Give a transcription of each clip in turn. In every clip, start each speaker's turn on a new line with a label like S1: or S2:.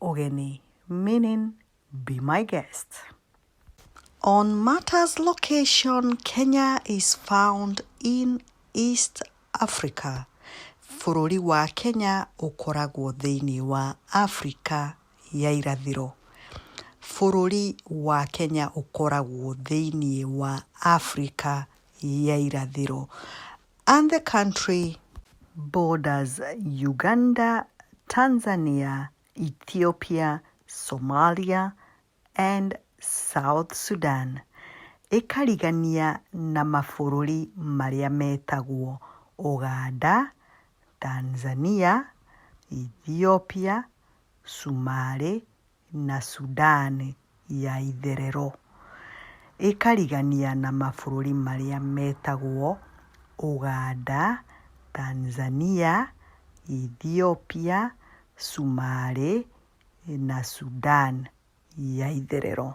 S1: Ogene, meaning Be My Guest. On Martha's location, Kenya is found in East Africa. Bũrũri wa Kenya ũkoragwo thĩinĩ wa Afrika ya irathĩro. Bũrũri wa Kenya ũkoragwo thĩinĩ wa Afrika ya irathĩro. and the country borders Uganda, Tanzania, Ethiopia, Somalia, and South Sudan, ĩkarigania na mabũrũri marĩa metagwo Uganda, Tanzania, Ethiopia, Sumarĩ, na Sudan ya itherero, ĩkarigania na mabũrũri marĩa metagwo Uganda, Tanzania, Ethiopia, Sumarĩ na Sudan ya itherero.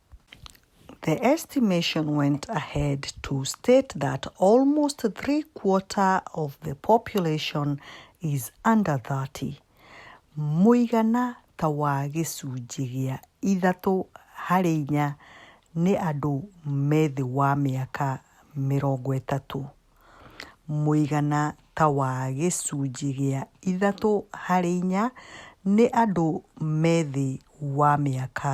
S1: The estimation went ahead to state that almost three quarter of the population is under 30. Mũigana ta wa gĩcunjĩ gĩa ithatũ harĩ inya nĩ andũ me thĩ wa mĩaka mĩrongo ĩtatũ. Mũigana ta wa gĩcunjĩ gĩa ithatũ harĩ inya nĩ andũ me thĩ wa mĩaka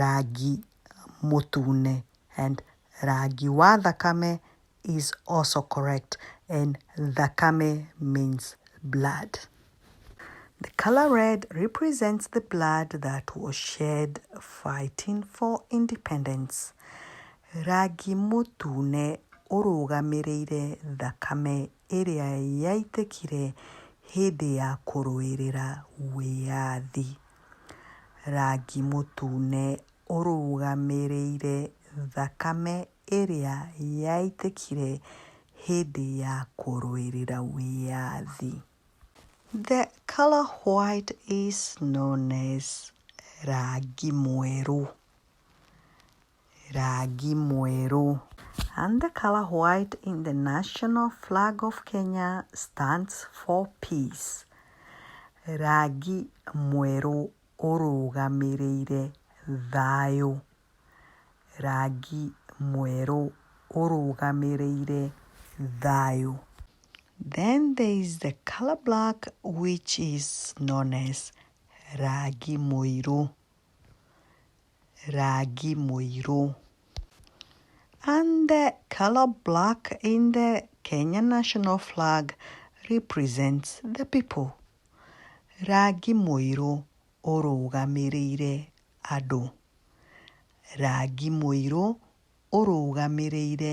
S1: rangi mũtune and rangi wa thakame is also correct and thakame means blood. The color red represents the blood that was shed fighting for independence. Rangi mũtune ũrũgamĩrĩire thakame ĩrĩa yaitĩkire hĩndĩ ya kũrũĩrĩra wĩyathi. Rangi mũtune ũrũgamĩrĩire thakame ĩrĩa yaitĩkire hĩndĩ ya kũrũĩrĩra wĩyathi. The colour white is known as rangi mwerũ. Rangi mwerũ. And the color white in the national flag of Kenya stands for peace. Rangi mwerũ ũrũgamĩrĩire thayũ. Rangi mwerũ ũrũgamĩrĩire thayũ. Then there is the color black which is known as rangi mũirũ. rangi mũirũ. And the color black in the Kenya national flag represents the people. Rangi mũirũ ũrũgamĩrĩire andũ. Rangi mũirũ ũrũgamĩrĩire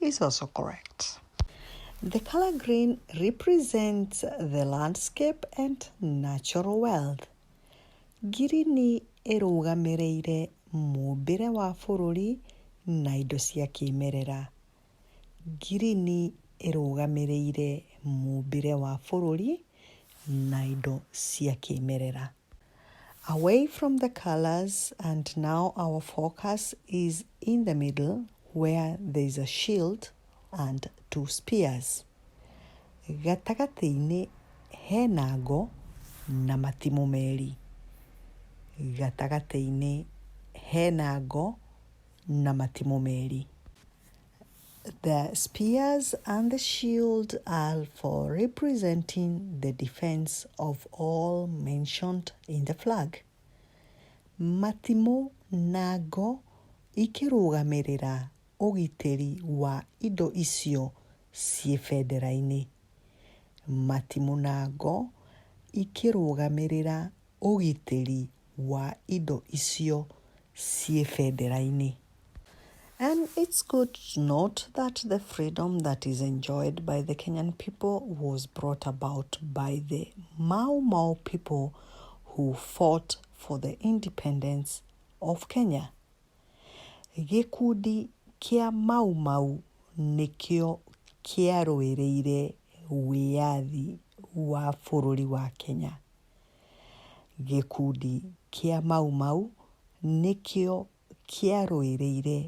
S1: is also correct. The color green represents the landscape and natural wealth. Ngirini ĩrũgamĩrĩire mũmbĩre wa bũrũri na indo cia kĩmerera. Ngirini ĩrũgamĩrĩire mũmbĩre wa bũrũri na indo cia kĩmerera. Away from the colors and now our focus is in the middle where there is a shield and two spears. Gatagatĩ-inĩ hena ngo na matimũ merĩ. Gatagatĩ-inĩ hena ngo na matimũ merĩ. The spears and the shield are for representing the defense of all mentioned in the flag. Matimũ na ngo ikĩrũgamĩrĩra ũgitĩri wa indo icio ciĩ bendera-inĩ. Matimũ na ngo ikĩrũgamĩrĩra ũgitĩri wa indo icio ciĩ bendera-inĩ. And it's good to note that the freedom that is enjoyed by the Kenyan people was brought about by the Mau Mau people who fought for the independence of Kenya. Gĩkundi kĩa Mau Mau nĩkĩo kĩarũĩrĩire wĩyathi wa bũrũri wa Kenya. Gĩkundi kĩa Mau Mau nĩkĩo kĩarũĩrĩire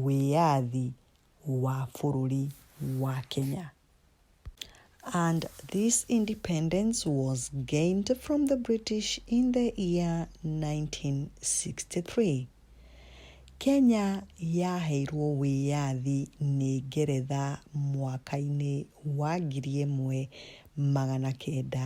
S1: wĩyathi wa bũrũri wa Kenya. And this independence was gained from the British in the year 1963. Kenya yaheirwo wĩyathi nĩ Ngeretha mwaka-inĩ wa ngiri ĩmwe magana kenda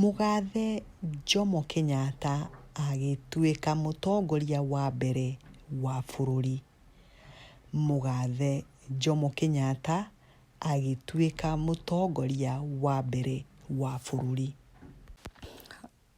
S1: Mũgathe Jomo Kenyatta agĩtuĩka mũtongoria wa mbere wa bũrũri. Mũgathe Jomo Kenyatta agĩtuĩka mũtongoria wa mbere wa bũrũri.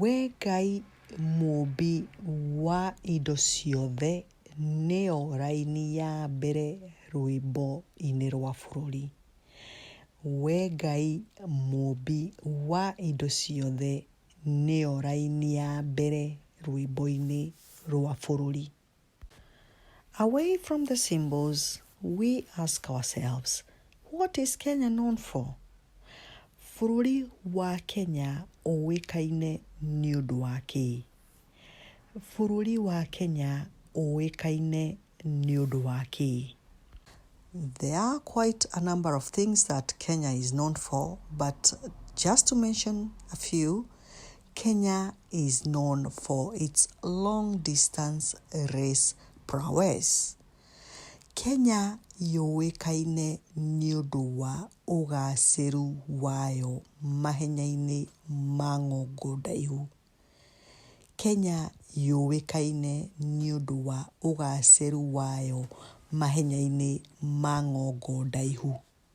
S1: We Ngai mũmbi wa indo ciothe nĩyo raini ya mbere rwĩmbo-inĩ rwa bũrũri. We Ngai mũmbi wa indo ciothe nĩyo raini ya mbere rwĩmbo-inĩ rwa bũrũri. Away from the symbols, we ask ourselves, what is Kenya known for? Bũrũri wa Kenya ũĩkaine nĩ ũndũ wa kĩĩ? Bũrũri wa Kenya ũĩkaine nĩ ũndũ wa kĩĩ? There are quite a number of things that Kenya is known for, but just to mention a few, Kenya is known for its long distance race prowess. Kenya yũĩkaine nĩ ũndũ wa ũgacĩru wayo mahenya-inĩ ma ngongo ndaihu. Kenya yũĩkaine nĩ ũndũ wa ũgacĩru wayo mahenya-inĩ ma ngongo ndaihu.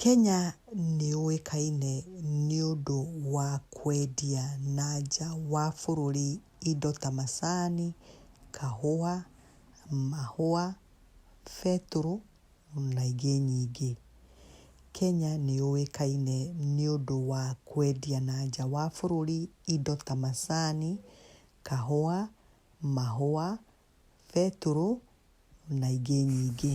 S1: Kenya nĩ yũĩkaine nĩ ũndũ wa kwendia na nja wa bũrũri indo ta macani, kahũa, mahũa, betũrũ na ingĩ nyingĩ. Kenya nĩ yũĩkaine nĩ ũndũ wa kwendia na nja wa bũrũri indo ta macani, kahũa, mahũa, betũrũ na ingĩ nyingĩ.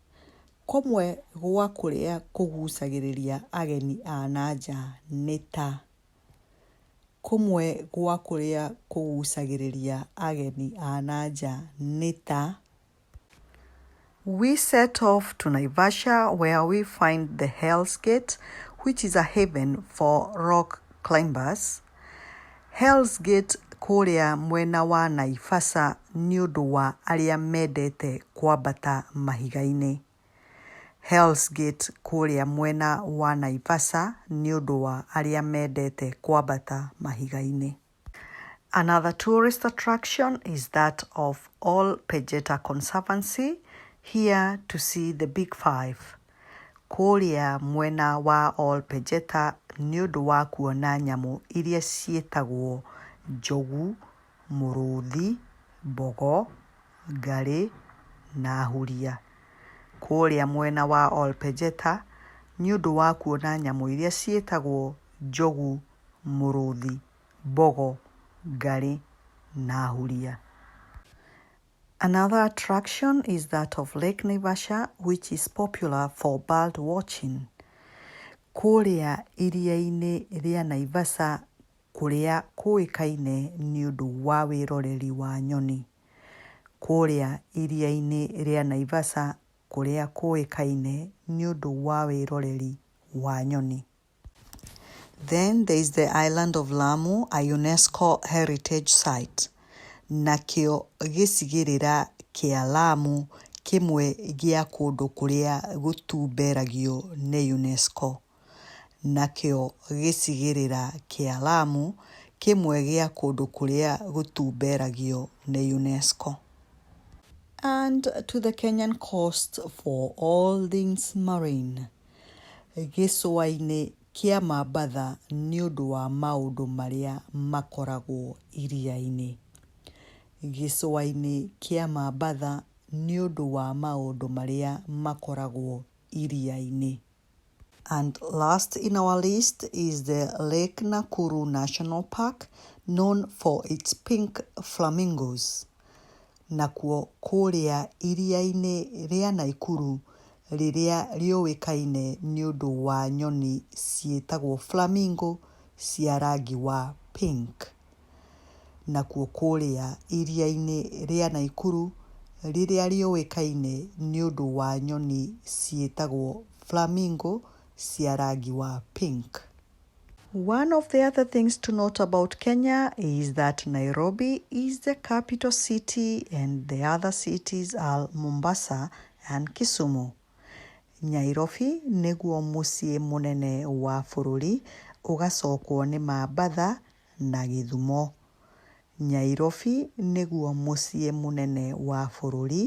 S1: Kũmwe gwa kũrĩa kũgucagĩrĩria ageni a na nja nĩ ta, kũmwe gwa kũrĩa kũgucagĩrĩria ageni a na nja nĩ ta, We set off to Naivasha where we find the Hell's Gate which is a haven for rock climbers. Hell's Gate kũrĩa mwena wa Naivasha nĩ ũndũ wa arĩa mendete kwambata mahiga-inĩ. Hell's Gate kũrĩa mwena wa Naivasha nĩ ũndũ wa arĩa mendete kwambata mahiga-inĩ. Another tourist attraction is that of Ol Pejeta Conservancy, here to see the Big Five. kũũrĩa mwena wa Ol Pejeta nĩ ũndũ wa kuona nyamũ iria ciĩtagwo njogu, mũrũthi, mbogo, ngarĩ na huria. Kũũrĩa mwena wa Ol Pejeta nĩ ũndũ wa kuona nyamũ iria ciĩtagwo njogu, mũrũthi, mbogo, ngarĩ na huria. Another attraction is that of Lake Naivasha which is popular for bird watching. Kũrĩa iria-inĩ rĩa Naivasha kũrĩa kũĩkaine nĩ ũndũ wa wĩroreri wa nyoni. Kũrĩa iria-inĩ rĩa Naivasha kũrĩa kũĩkaine nĩ ũndũ wa wĩroreri wa nyoni. Then there is the island of Lamu, a UNESCO heritage site. Nakĩo gĩcigĩrĩra kĩa Lamu kĩmwe gĩa kũndũ kũrĩa gũtumberagio nĩ UNESCO. Nakĩo gĩcigĩrĩra kĩa Lamu kĩmwe gĩa kũndũ kũrĩa gũtumberagio nĩ UNESCO. And to the Kenyan coast for all things marine. Gĩcũa-inĩ kĩa Mambatha nĩ ũndũ wa maũndũ marĩa makoragwo iria-inĩ. Gĩcũa-inĩ kĩa Mambatha nĩ ũndũ wa maũndũ marĩa makoragwo iria-inĩ. And last in our list is the Lake Nakuru National Park known for its pink flamingos. nakuo kũrĩa iria-inĩ rĩa Naikuru rĩrĩa rĩũĩkaine nĩ ũndũ wa nyoni ciĩtagwo flamingo cia rangi wa pink. Nakuo kũrĩa iria-inĩ rĩa Naikuru rĩrĩa rĩũĩkaine nĩ ũndũ wa nyoni ciĩtagwo flamingo cia rangi wa pink. One of the other things to note about Kenya is that Nairobi is the capital city and the other cities are Mombasa and Kisumu. Nyairobi nĩguo mũciĩ mũnene wa bũrũri ũgacokwo nĩ Mambatha na Gĩthumo. Nyairobi nĩguo mũciĩ mũnene wa bũrũri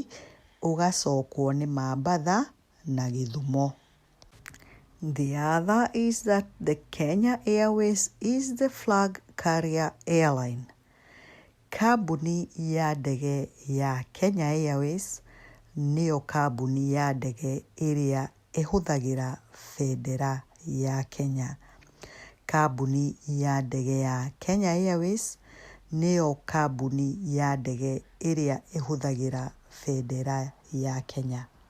S1: ũgacokwo nĩ Mambatha na Gĩthumo. The other is that the Kenya Airways is the flag carrier airline. Kambuni ya ndege ya Kenya Airways nĩyo kambuni ya ndege ĩrĩa ĩhũthagĩra bendera ya Kenya. Kambuni ya ndege ya Kenya Airways nĩyo kambuni ya ndege ĩrĩa ĩhũthagĩra bendera ya Kenya.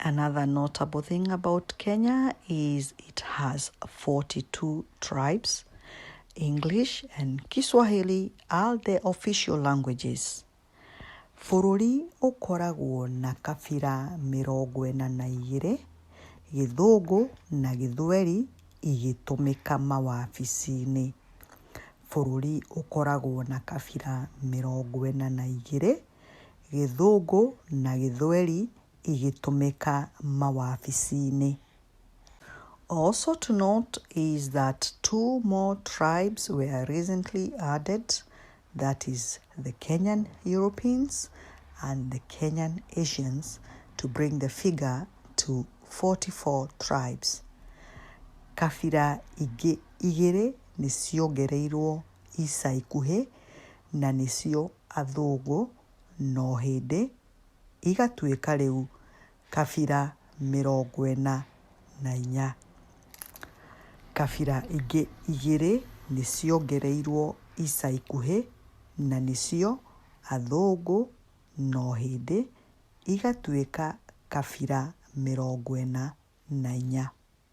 S1: Another notable thing about Kenya is it has 42 tribes. English and Kiswahili are the official languages. Bũrũri ũkoragwo na kabira mĩrongo ĩna na igĩrĩ, Gĩthũngũ na Gĩthweri igĩtũmĩka mawabici-inĩ. Bũrũri ũkoragwo na kabira mĩrongo ĩna na igĩrĩ, gĩthũngũ na gĩthweri igĩtũmĩka mawabici-inĩ. Also to note is that two more tribes were recently added that is the Kenyan Europeans and the Kenyan Asians to bring the figure to 44 tribes. Kabira ingĩ igĩrĩ nĩ ciongereirwo ica ikuhĩ na nĩcio athũngũ, no hĩndĩ igatuĩka rĩu kabira mĩrongo ĩna na inya. Kabira ingĩ igĩrĩ nĩciongereirwo ica ikuhĩ na nĩcio athũngũ, no hĩndĩ igatuĩka kabira mĩrongo ĩna na inya.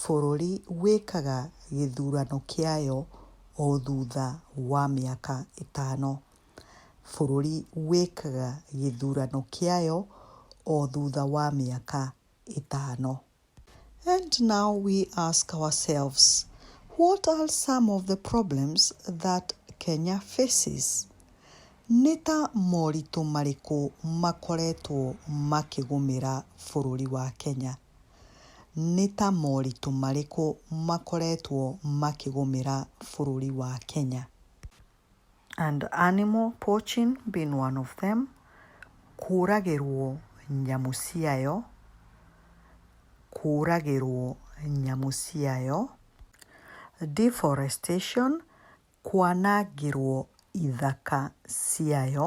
S1: Bũrũri wĩkaga gĩthurano kĩayo o thutha wa mĩaka ĩtano. Bũrũri wĩkaga gĩthurano kĩayo o thutha wa mĩaka ĩtano. And now we ask ourselves, what are some of the problems that Kenya faces? Nĩ ta moritũ marĩkũ makoretwo makĩgũmĩra bũrũri wa Kenya? nĩ ta moritũ marĩkũ makoretwo makĩgũmĩra bũrũri wa Kenya? And animal poaching being one of them, kũragĩrwo nyamũ ciayo, kũragĩrwo nyamũ ciayo, deforestation, kwanangĩrwo ithaka ciayo,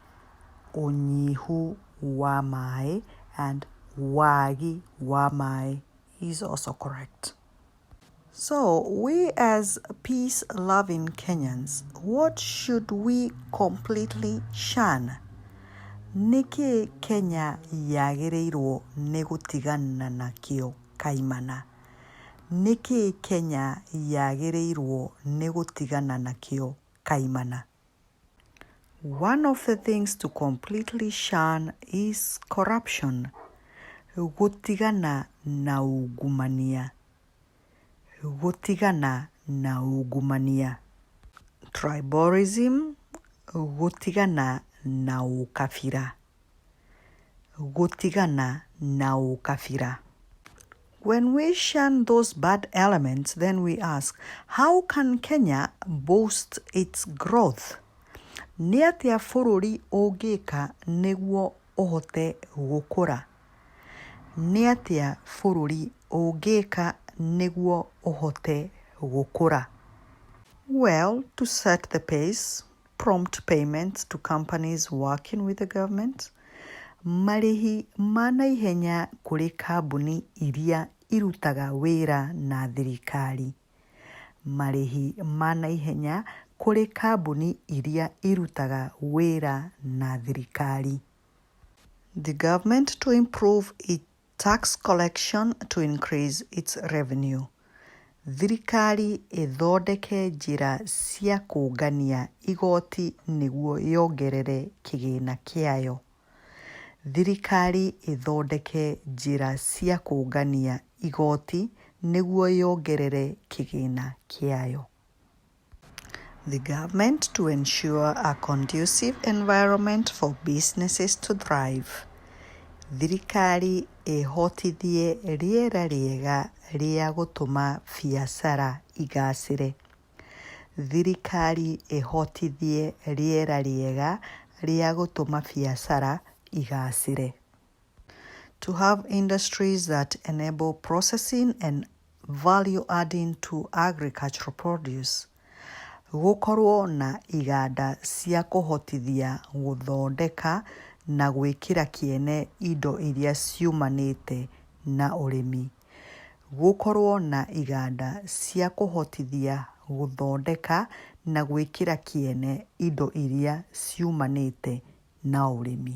S1: ũnyihu wa maĩ and wagi wa maĩ is also correct. So we as peace loving Kenyans what should we completely shun? Nĩkĩĩ Kenya yagĩrĩirwo nĩ gũtigana nakĩo kaimana? Nĩkĩĩ Kenya yagĩrĩirwo nĩ gũtigana nakĩo kaimana? One of the things to completely shun is corruption. Gũtigana na ungumania. Gũtigana na ungumania. Tribalism. Gũtigana na ũkabira. Gũtigana na ũkabira. When we shun those bad elements, then we ask, how can Kenya boost its growth? Nĩ atĩa bũrũri ũngĩka nĩguo ũhote gũkũra? Nĩ atĩa bũrũri ũngĩka nĩguo ũhote gũkũra? Well, to set the pace, prompt payments to companies working with the government, marĩhi ma naihenya kũrĩ kambuni iria irutaga wĩra na thirikari, marĩhi ma naihenya kũrĩ kambuni iria irutaga wĩra na thirikari. The government to improve its Tax collection to increase its revenue, Thirikari ĩthondeke njĩra cia kũũngania igooti nĩguo yongerere kĩgĩna kĩayo, Thirikari ĩthondeke njĩra cia kũũngania igooti nĩguo yongerere kĩgĩna kĩayo. the government to ensure a conducive environment for businesses to thrive, thirikari ĩhotithie rĩera rĩega rĩa gũtũma biacara igacĩre, thirikari ĩhotithie rĩera rĩega rĩa gũtũma biacara igacĩre, to have industries that enable processing and value adding to agricultural produce, gũkorwo na iganda cia kũhotithia gũthondeka na gwĩkĩra kĩene indo iria ciumanĩte na ũrĩmi. Gũkorwo na iganda cia kũhotithia gũthondeka na gwĩkĩra kĩene indo iria ciumanĩte na ũrĩmi.